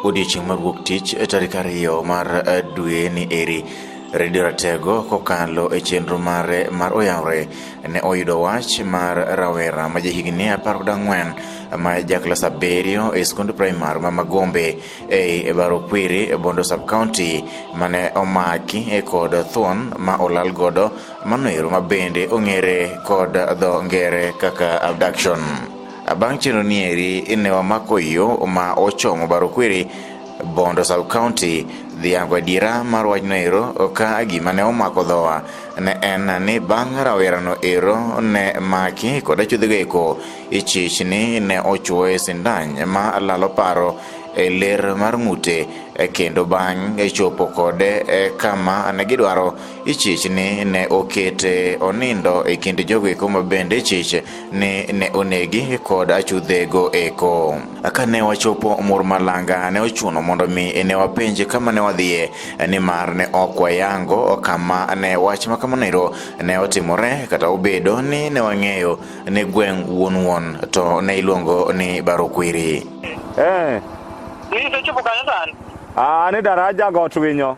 Odiechieng' mar wuok tich e tarik ariyo mar eh, dwe ni eri Redio Ratego kokalo e chenro mare mar Oyawre ne oyudo wach mar rawera ma jahigni apar kod ang'wen ma jaklas abiriyo e skund primar ma Magombe ei Barokwiri e Bondo sub county mane omaki e kod thuon ma olal godo Mano ero ma bende ong'ere kod dho ngere kaka abduction. Bang' chenro ni eri ne wamako yo ma ochomo Barokwiri, Bondo sub county dhiango adiera mar wachno ero ka gima ne omako dhowa ne en ni bang' rawerano ero ne maki kod achuodhego eko ichich ni ne ochuoye sindan ma lalo paro e ler mar ng'ute kendo bang' chopo kode e kama ne gidwaro ichich ni ne okete onindo e kind jogo eko ma bende ichich ni ne onegi kod achudhego eko. Ka ne wachopo mur malanga ne ochuno mondo mi ne wapenje kama ne wadhiye nimar ne ok wayango kama ne wach ma kamano ero ne otimore kata obedo ni ne wang'eyo ni gweng' wuon wuon to ne iluongo ni Barokwiri. Eh, Nisechopo kanyo sani? ah, ni daraja got winyo.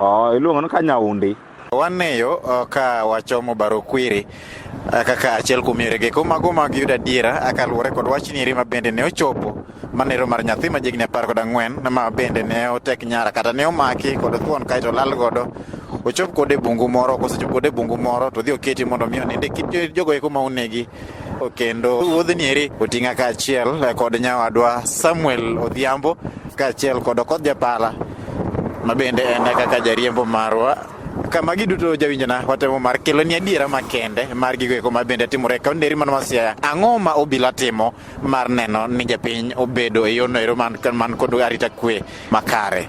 Oh, iluongo ka nyaundi. Wangeyo uh, ka wachomo baro kwiri uh, kaka achiel kuom yorege ko mago mag yudo adiera uh, kaluwore kod wach nieri ma bende ne ochopo manero mar nyathi ma jigni apar kod ang'wen ma bende ne otek nyara kata ne omaki kod thuon kaeto lal godo ochop kode bungu moro kosechop kode bungu moro to dhi oketi mondo mi oninde kit jogo eko ma onegi kendo wuodhni eri oting'a kaachiel kod nyawadwa Samuel Odhiambo kaachiel kod Okoth Japala Ma bende en kaka jariembo marwa kama giduto jawinjona watemo mar kelo ni adiera makende mar gigo eko ma bende timore e kaunti eri mano ma Siaya. Ang'o ma obila timo mar neno ni japiny obedo e yorno ero man kod arita kwe makare?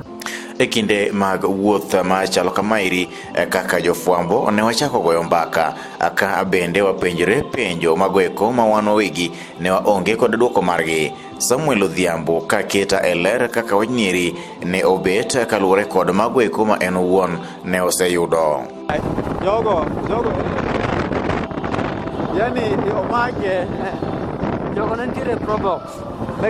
e kinde mag wuoth ma chalo kamaeri e kaka jofwambo ne wachako goyo mbaka ka bende wapenjore penjo magoeko ma wan wawegi ne waonge kod dwoko margi Samuel Odhiambo ka keta e ler kaka wanyiri ne obet kaluwore kod mago eko ma en owuon ne oseyudo. Jogo, jogo. Yani omake. Jogo ne nitiere pro box.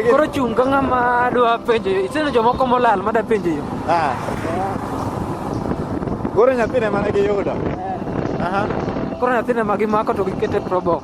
Koro chung' ka ng'ama dwa penjo yo. Iseno jomoko molal ma da penjo yo. Ah. Koro nyathine mane giyudo. Eh. Aha. Koro nyathine ma gimako to gikete pro box.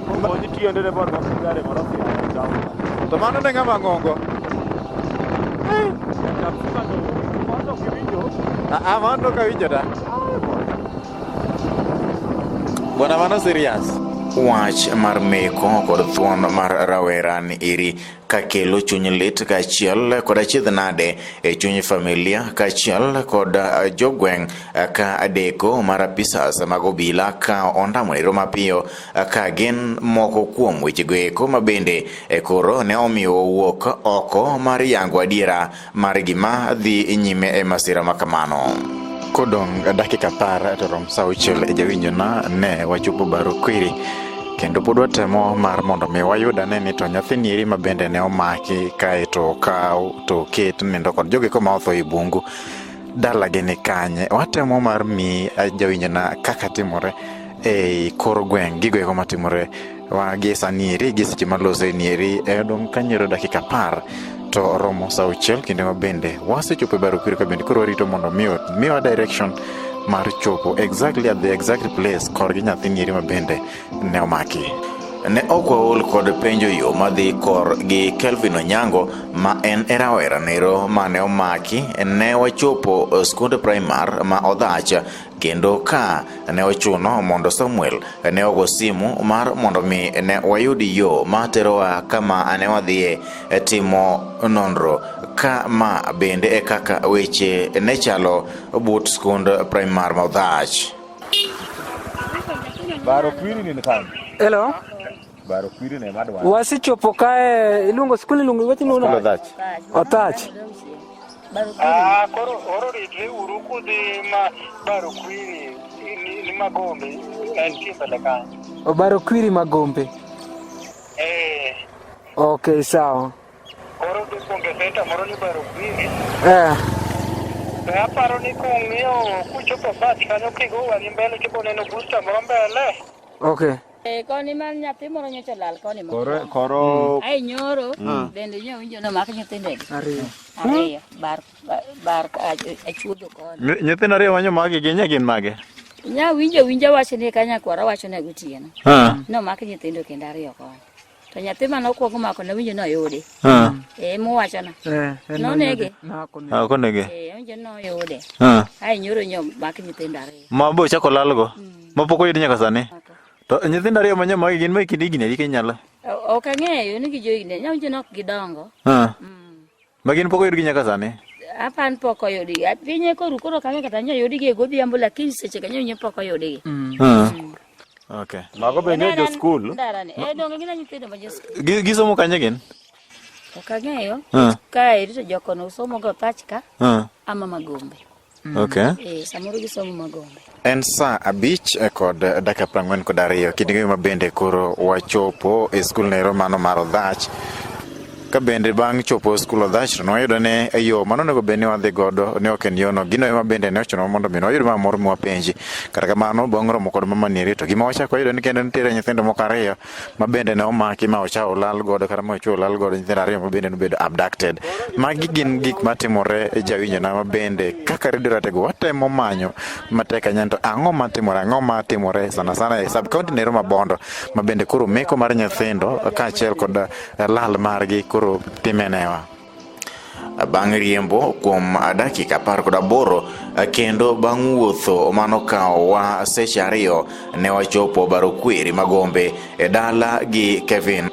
Okonyi tiende ne mondo wasik gari mondo ofi down. To mano ne ng'ama ng'ongo. Kapsima to mondo kiwinjo. Ah, mano ka winjo da. Bwana mano serious. Wach mar meko kod thuon mar rawera ni iri ka kelo chuny lit kaachiel kod achiedh nade e chuny familia kaachiel kod eh, jogweng' eh, ka adeko mar apisas mag obila ka ondamo ero mapiyo eh, ka gin moko kuom wechego eko mabende koro ne omiyo owuok oko mar yango adiera mar gima dhi nyime e masira ma kamano. Kodong' dakika par to rom sa auchiel e jawinjona ne wachopo baro kwiri kendo pod watemo mar mondo mi wayud ane ni to nyathini eri ma bende ne omaki kae to okaw to oket nindo kod jogi koma otho e bungu dalagi ni kanye watemo mar mi jawinjona kaka timore e kor gweng' gigo eko matimore Wa gi sani eri gi seche malose ni eri e odong' kanyero dakika apar to oromo sa auchiel kinde ma bende wasechopo e Barukwiri ka bende koro warito mondo miyo miwa direction mar chopo exactly at the exact place korgi nyathini eri ma bende ne omaki. Ne ok waol kod penjo yo madhi kor gi Kelvin Onyango ma en e rawera nero mane omaki ne wachopo skund primar ma Odhach Kendo ka ne ochuno mondo Samuel ne ogo simu mar mondo mi ne wayud yo ma terowa kama ne wadhiye timo nonro ka ma bende e kaka weche ne chalo but skund primar Maudhach. Hello. Wasechopo kae iluongo skul iluongo iwach ni uno. Othach. Othach. Ah, koro oro ritre uru kudhi ma baro kwiri ni magombe en kimbele kanyo. Obaro kwiri magombe. Eh. Okay, sawa. Koro dhi kuonge senta moro ni baro kwiri. Eh. Be aparo ni kung'iyo kuchopo bat kanyo kigo wang'i mbele kibo neno booster moro mbele. Okay. Eh, koni ma nyathi moro nyocha olal koni ma. Koro koro Ai nyoro bende nyo winjo no mak nyithindo gi. Ariyo. Ariyo bar bar- bar achuodho koni. Ny- nyithindo ariyo manyo magi gin nye gin mage? Nya winjo winjo wacho ni kanyakwara wacho ne gotieno. Ha. No mak nyithindo kendo ariyo koni. To nyathi mane okwongo mako ne winjo noyude. Ah. Eh, muwachona. Eh, en Nonege. Nako ne. Ah, konege. Eh, winjo noyude. Ah. Ai nyoro nyo mak nyithindo ariyo. Ma bo chako lalgo. Ma pok oyud nyaka sani. To nyithindo ariyo ma nyamagi gin ma kind higni adi kinyalo? O- Ok ang'eyo ni gijoigni. Nyawinjo nok gidongo. Ah. Mm. Magi in pok oyudgi nyaka sani? Apa an pok oyudgi. Piny e koru koro kang'e kata nyo yudgi e godhiambo lakini seche kanyo nyo pok oyudgi. Mm. Ah. Mm. Okay. Mago be nyo jo skul? Ndarani. E eh, donge gina nyithindo ma jo skul. Gisomo kanye gin? Ok ang'eyo. Ah. Ka irito jokono usomo go pachka. Ah. Ama magombe. Mm. Okay. Eh, samoro gisomo magombe. En saa abich eh, kod eh, dakika prang'wen kod ariyo kidingo ma bende koro wachopo e skul nero mano mar odhach ka bende bang' chopo e skul odhach to nwayudo ni e yo mano onego bed ni wadhi godo ne ok en yono gino ema bende ne ochunowa mondo mi nwayud ma moro mwapenji kata kamano bang' romo kod mama nieri to gima wachako wayudo ni kendo nitiere nyithindo moko ariyo ma bende ne omaki ma ocha olal godo kata ma ocha olal godo nyithindo ariyo ma bende nobedo abducted. Magi gin gik matimore e jawinjona ma bende kaka redio ratego watemo manyo matek ahinya to ang'o matimore ang'o matimore sana sana e sub county nero mabondo ma bende koro meko mar nyithindo kaachiel kod eh, lal margi koro timenewa. bang' riembo kuom dakika apar kod aboro kendo bang' wuotho mano kawowa seche ariyo ne wachopo baro kweri magombe e dala gi Kevin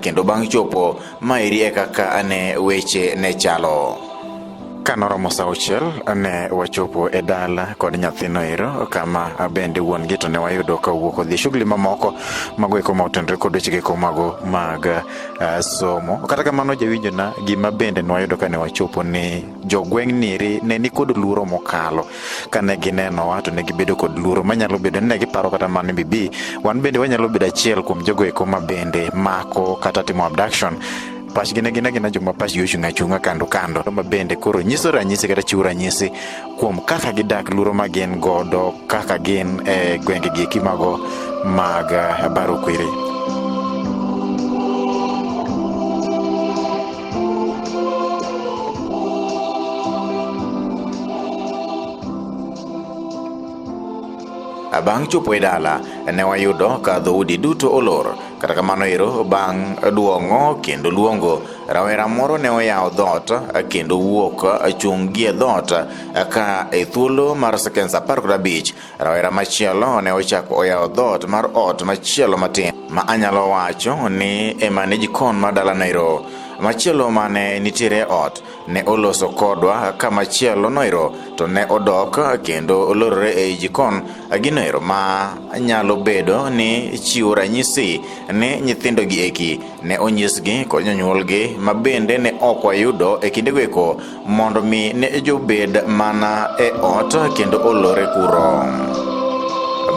kendo bang' chopo maeri e kaka ane weche ne chalo ka noromo sa auchiel ne wachopo e dala kod nyathino ero kama bende wuon gi to ne wayudo ka owuok odhi shughuli mamoko mago eko ma otendore kod wechego eko mago mag uh, somo kata kamano jawinjona gima bende nwayudo kane wachopo ni jogweng' niri ne nikod luoro mokalo kane ginenowa to ne gibedo kod luoro manyalo bedo ni ne giparo kata mano bibi wan bende wanyalo bedo achiel kuom jogo eko ma bende mako kata timo abduction pachgi ne gin agina joma pachgi ochung' achung'a kando kando ma bende koro nyiso ranyisi kata chiwo ranyisi kuom kaka gidak luro ma gin godo kaka gin e gwenge gi eki mago mag eh, baro kwiri bang' chopo e dala ne wayudo ka dhoudi duto olor kata kamano ero bang' duong'o kendo luongo Rawera moro ne oyawo dhoot eh, kendo wuok eh, chung' gie dhoot eh, ka e thuolo mar sekens apar kod abich rawera machielo ne ochako oyawo dhoot mar ot machielo matin ma anyalo wacho ni ema ne jikon mar dala Nairo. Machielo mane nitiere ot ne oloso kodwa ka machielo noiro to ne odok kendo olorore ei jikon ginoero ma nyalo bedo ni chiwo ranyisi ni nyithindo gi eki ne onyisgi kod jonyuolgi ma bende ne ok wayudo e kindego eko mondo mi ne jobed mana e ot kendo olore kuro.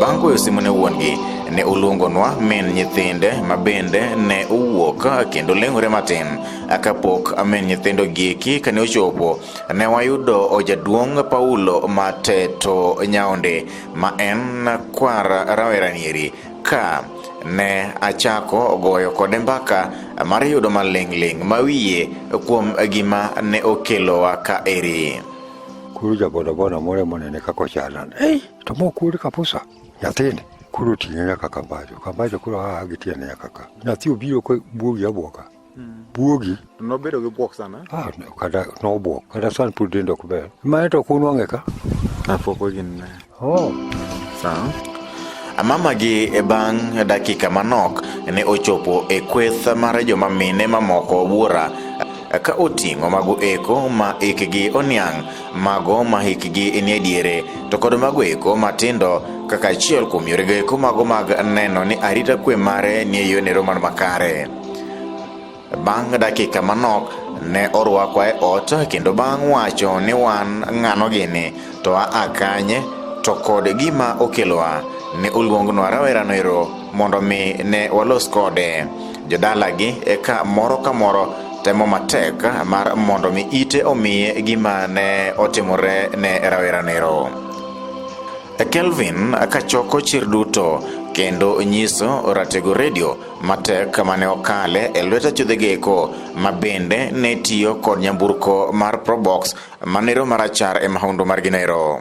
Bang' goyo simu ne wuon-gi, ne oluongonwa min nyithinde ma bende ne owuok kendo leng'ore matin. Kapok min nyithindo gieki kane ochopo, ne wayudo ojaduong' Paulo Mateto Nyaonde ma en kwar rawera Nyeri Ka ne achako goyo kode mbaka mar yudo maling'ling' ma wiye kuom gima ne okelowa ka eri. Koro ja bodaboda moro ema onene kaka ochalna. Ei, to ma ok wuod Kapusa? Nyathini. Koro oting'e nyaka Kambajo. Kambajo koro aa gi tiende nyaka ka. Nyathi obiro ka bwogi abwoga. buogi nobedo gi buok sana ah, kata nobuok kata san pod dende ok ber mane to kunwang'e ka apoko gin ne oh. sawa amamagi e bang' dakika manok ne ochopo e kweth mar joma mine mamoko buora ka oting'o mago eko ma ikgi oniang' mago ma hikgi nie diere to kod mago eko matindo kaka achiel kuom yorego eko mago mag neno ni arita kwe mare nie yonero man makare Bang' dakika manok, ne orwakwa e ot kendo bang' wacho ni wan ng'ano gini to aa kanye to kod gima okelowa ne oluongnwa rawerano ero mondo mi ne walos kode jodalagi eka moro ka moro temo matek mar mondo mi ite omiye gima ne otimore ne rawerano ero Kelvin kachoko chir duto kendo nyiso Ratego Radio matek mane okale e lwet achudhegeko ma bende ne tiyo kod nyamburko mar probox manero marachar e mahundo mar ginero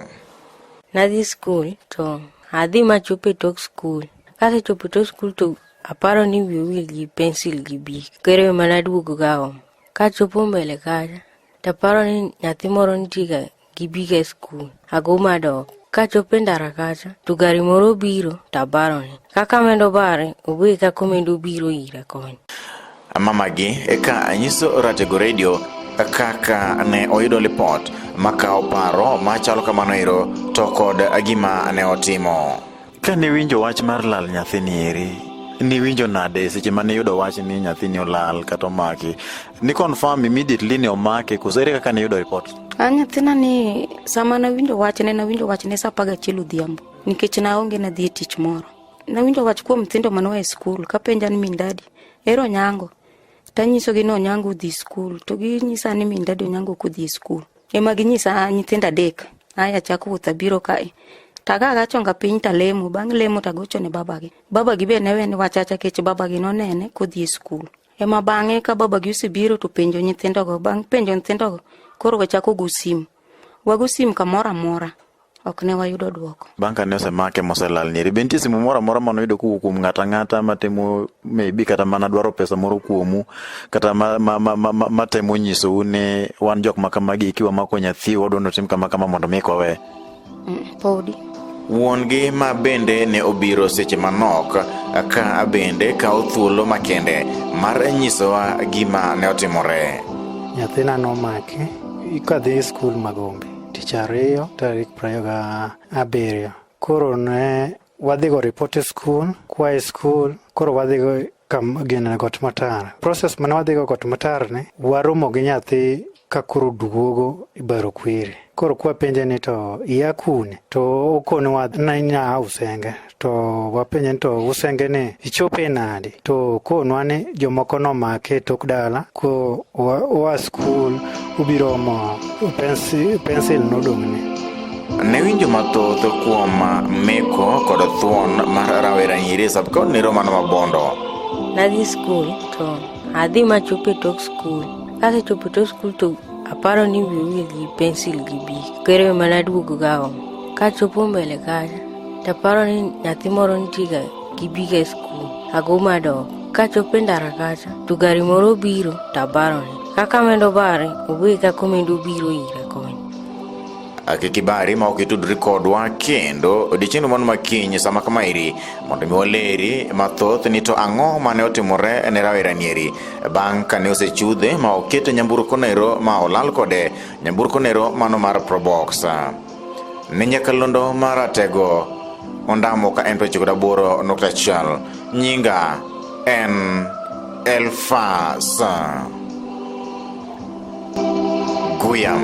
nadhi skul to adhi machopo e tok skul kasechopo e tok skul to aparo ni wiye wil gi pensil gi bik kero ema naduogo gaom kachopo mbele kacha taparo ni nyathi moro nitiega gibiga e skul. Ago madok. Kachopo e ndara kacha, to gari moro obiro to abarone. Kaka amedo bare, oboye kaka omedo biro ira koni. Mamagi eka anyiso Ratego Radio kaka ne oyudo lipot makawo paro machalo kamano ero to kod gima ne otimo. Ka niwinjo wach mar lal nyathini eri, niwinjo nade seche ma niyudo wach ni nyathini olal kata omaki? Ni confirm immediately ni omake koso ere kaka niyudo report? A nyathina ni sama nawinjo wach ne nawinjo wach ne sa apar gachiel odhiambo nikech naonge nadhi e tich moro. Nawinjo wach kuom nyithindo mane oa e skul kapenja ni min dadi ere Onyango? Tanyisogi ni Onyango odhi skul to ginyisa ni min dadi Onyango ok odhi e skul. Ema ginyisa ah, nyithindo adek, aya chak wuoth abiro kae. Taga agachonga piny talemo, bang' lemo tagocho ne babagi. Babagi be ne weni wachacha kech babagi nonene kodhi e skul. Ema bang'e ka babagi osebiro to penjo nyithindogo, bang' penjo nyithindogo koro wachako go sim. Wago sim kamoro amora. ok ne wayudo dwoko. Bang' kane osemake moselal nyeri, be nitie simu moro amora mane oyudo kowuok kuom ng'ato ang'ata matemo maybe kata mana dwaro pesa moro kuomu kata matemo ma, ma, ma, ma, ma nyisou ni wan jok ma kamagi kiwa mako nyathi wadwa notim kama kama mondo mi kowe? Mm, podi. Wuon-gi ma bende ne obiro seche manok ka bende kawo thuolo makende mar nyisowa gima ne otimore. Nyathina nomaki kadhi e skul Magombe. tich ariyo tarik prariyo ga abiriyo koro ne wadhigo report e skul kwaye skul koro wadhigo kam gene got matar proses mane wadhigo got matar ni waromo gi nyathi ka koro duogo ibaro kwiri koro kwapenje ni to iya kune to okone wa nanya usenge to wapenje ni to usenge ni ichope nadi to konwa ni jomoko nomake tok dala ko oa skul ubiromo pensil nodong'ne ne winjo mathoth kuom meko kod thuon mar rawera nyiri sabkod ni romano mabondo nadhi skul to adhi machope tok skul kasechopo tok skul to aparo ni wiu gi pensil gi bik kere mana duogo gaom kachopo mbele kacha To paro ni nyathi moro nitiga gibiga e skul, ago madok. Kachopo e ndara kacha, to gari moro obiro to abarone. Kaka amendo bare, owe kaka omendo obiro ira koni. kik ibari ma ok itudri kodwa kendo odiechiengno mano makiny sama kama iri mondo mi waleri mathoth ni to ang'o mane otimore ne rawera nieri bang' kane osechudhe ma okete nyamburko nero ma olal kode nyamburko nero mano mar probox ni nyakalondo maratego ondamo ka en prochiko daboro nukta achiel nyinga en elfas guyam